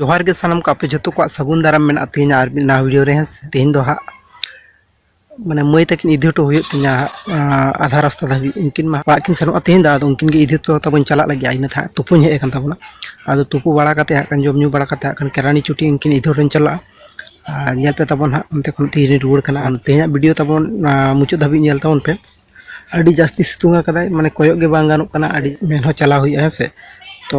ᱡᱚᱦᱟᱨ ᱜᱮ ᱥᱟᱱᱟᱢ ᱠᱚ ᱟᱯᱮ ᱡᱷᱚᱛᱚ ᱠᱚᱣᱟᱜ ᱥᱟᱹᱜᱩᱱ ᱫᱟᱨᱟᱢ ᱢᱮᱱᱟᱜᱼᱟ ᱛᱮᱦᱮᱧ ᱟᱨ ᱢᱤᱫ ᱱᱟᱣᱟ ᱵᱷᱤᱰᱤᱭᱳ ᱨᱮ ᱦᱮᱸ ᱥᱮ ᱛᱮᱦᱮᱧ ᱫᱚ ᱦᱟᱸᱜ ᱢᱟᱱᱮ ᱢᱟᱹᱭ ᱛᱟᱹᱠᱤᱱ ᱤᱫᱤ ᱦᱚᱴᱚ ᱦᱩᱭᱩᱜ ᱛᱤᱧᱟ ᱟᱫᱷᱟ ᱨᱟᱥᱛᱟ ᱫᱷᱟᱹᱵᱤᱡ ᱩᱱᱠᱤᱱ ᱢᱟ ᱚᱲᱟᱜ ᱠᱤᱱ ᱥᱮᱱᱚᱜᱼᱟ ᱛᱮᱦᱮᱧ ᱫᱚ ᱟᱫᱚ ᱩᱱᱠᱤᱱ ᱜᱮ ᱤᱫᱤ ᱦᱚᱴᱚ ᱛᱟᱵᱚᱱ ᱪᱟᱞᱟᱜ ᱞᱟᱹᱜᱤᱫ ᱤᱱᱟᱹ ᱛᱟᱦᱮᱸ ᱛᱩᱯᱩᱧ ᱦᱮᱡ ᱟᱠᱟᱱ ᱛᱟᱵᱚᱱᱟ ᱟᱫᱚ ᱛᱩᱯᱩ ᱵᱟᱲᱟ ᱠᱟᱛᱮ ᱦᱟᱸᱜ ᱠᱷᱟᱱ ᱡᱚᱢ ᱧᱩ ᱵᱟᱲᱟ ᱠᱟᱛᱮ ᱦᱟᱸᱜ ᱠᱷᱟᱱ ᱠᱮᱨᱟᱱᱤ ᱪᱩᱴᱤ ᱩᱱᱠᱤᱱ ᱤᱫᱤ ᱦᱚᱴᱚᱧ ᱪᱟᱞᱟᱜᱼᱟ ᱟᱨ ᱧᱮᱞ ᱯᱮ ᱛᱟᱵᱚᱱ ᱦᱟᱸᱜ ᱚᱱᱛᱮ ᱠᱷᱚᱱ ᱛᱤᱨᱮ ᱨᱩᱣᱟᱹᱲ ᱠᱟᱱᱟ ᱟᱨ ᱛᱮᱦᱮᱧᱟᱜ ᱵᱷᱤᱰᱤᱭᱳ ᱛᱟᱵᱚᱱ ᱢᱩᱪᱟᱹᱫ ᱫᱷᱟᱹᱵᱤᱡ ᱧᱮᱞ ᱛᱟᱵᱚᱱ ᱯᱮ ᱟᱹᱰᱤ ᱡᱟᱹᱥᱛᱤ ᱥᱤᱛᱩᱝ ᱟᱠᱟᱫᱟᱭ ᱢᱟᱱᱮ ᱠᱚᱭᱚᱜ ᱜᱮ ᱵᱟᱝ ᱜᱟᱱᱚᱜ ᱠᱟᱱᱟ ᱟᱹᱰᱤ ᱢᱮᱱ ᱦᱚᱸ ᱪᱟᱞᱟᱣ ᱦᱩᱭᱩᱜᱼᱟ ᱦᱮᱸ ᱥᱮ ᱛᱚ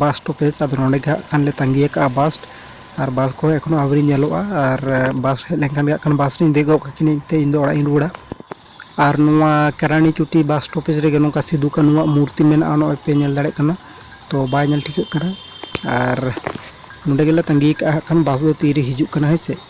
ᱵᱟᱥ ᱥᱴᱚᱯᱮᱡᱽ ᱟᱫᱚ ᱱᱚᱸᱰᱮ ᱜᱮ ᱦᱟᱸᱜ ᱠᱷᱟᱱ ᱞᱮ ᱛᱟᱺᱜᱤ ᱟᱠᱟᱫᱼᱟ ᱵᱟᱥ ᱟᱨ ᱵᱟᱥ ᱠᱚᱦᱚᱸ ᱮᱠᱷᱚᱱᱚ ᱟᱹᱣᱨᱤ ᱧᱮᱞᱚᱜᱼᱟ ᱟᱨ ᱵᱟᱥ ᱦᱮᱡ ᱞᱮᱱᱠᱷᱟᱱ ᱜᱮ ᱦᱟᱸᱜ ᱠᱷᱟᱱ ᱵᱟᱥ ᱨᱤᱧ ᱫᱮᱡ ᱜᱚᱫ ᱠᱟᱹᱠᱤᱱᱟᱹᱧ ᱛᱮ ᱤᱧ ᱫᱚ ᱚᱲᱟᱜ ᱤᱧ ᱨᱩᱣᱟᱹᱲᱟ ᱟᱨ ᱱᱚᱣᱟ ᱠᱮᱨᱟᱱᱤ ᱪᱩᱴᱤ ᱵᱟᱥ ᱥᱴᱚᱯᱮᱡᱽ ᱨᱮᱜᱮ ᱱᱚᱝᱠᱟ ᱥᱤᱫᱩ ᱠᱟᱹᱱᱩᱣᱟᱜ ᱢᱩᱨᱛᱤ ᱢᱮᱱᱟᱜᱼᱟ ᱱᱚᱜᱼᱚᱭ ᱯᱮ ᱧᱮᱞ ᱫᱟᱲᱮᱭᱟᱜ ᱠᱟᱱᱟ ᱛᱚ ᱵᱟᱭ ᱧᱮᱞ ᱴᱷᱤᱠᱟᱹᱜ ᱠᱟᱱᱟ ᱟᱨ ᱱᱚᱸᱰᱮ ᱜᱮᱞᱮ ᱛᱟᱺᱜᱤ ᱟᱠᱟᱫᱼᱟ ᱦᱟᱸᱜ ᱠᱷᱟᱱ ᱵᱟᱥ ᱫᱚ ᱛᱤᱨᱮ ᱦᱤᱡᱩᱜ ᱠᱟᱱᱟ ᱦᱮᱸ ᱥᱮ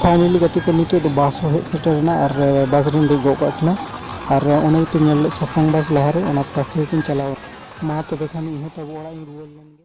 ᱯᱷᱟᱭᱱᱮᱞᱤ ᱜᱟᱛᱮ ᱠᱚ ᱱᱤᱛᱚᱜ ᱫᱚ ᱵᱟᱥ ᱦᱚᱸ ᱦᱮᱡ ᱥᱮᱴᱮᱨ ᱮᱱᱟ ᱟᱨ ᱵᱟᱥ ᱨᱤᱧ ᱫᱮᱡ ᱜᱚᱫ ᱠᱟᱜ ᱠᱤᱱᱟ ᱟᱨ ᱚᱱᱮ ᱜᱮᱯᱮ ᱧᱮᱞ ᱞᱮᱫ ᱥᱟᱥᱟᱝ ᱵᱟᱥ ᱞᱟᱦᱟᱨᱮ ᱚᱱᱟ ᱵᱟᱥ ᱛᱮᱜᱮ ᱠᱤᱱ ᱪᱟᱞᱟᱣ ᱮᱱᱟ ᱢᱟ ᱛᱚᱵᱮ ᱠᱷᱟᱱ ᱤᱧ ᱦᱚᱸ ᱛᱟᱵᱚ ᱚᱲᱟᱜ ᱤᱧ ᱨᱩᱣᱟᱹᱲ ᱞᱮᱱ ᱜᱮ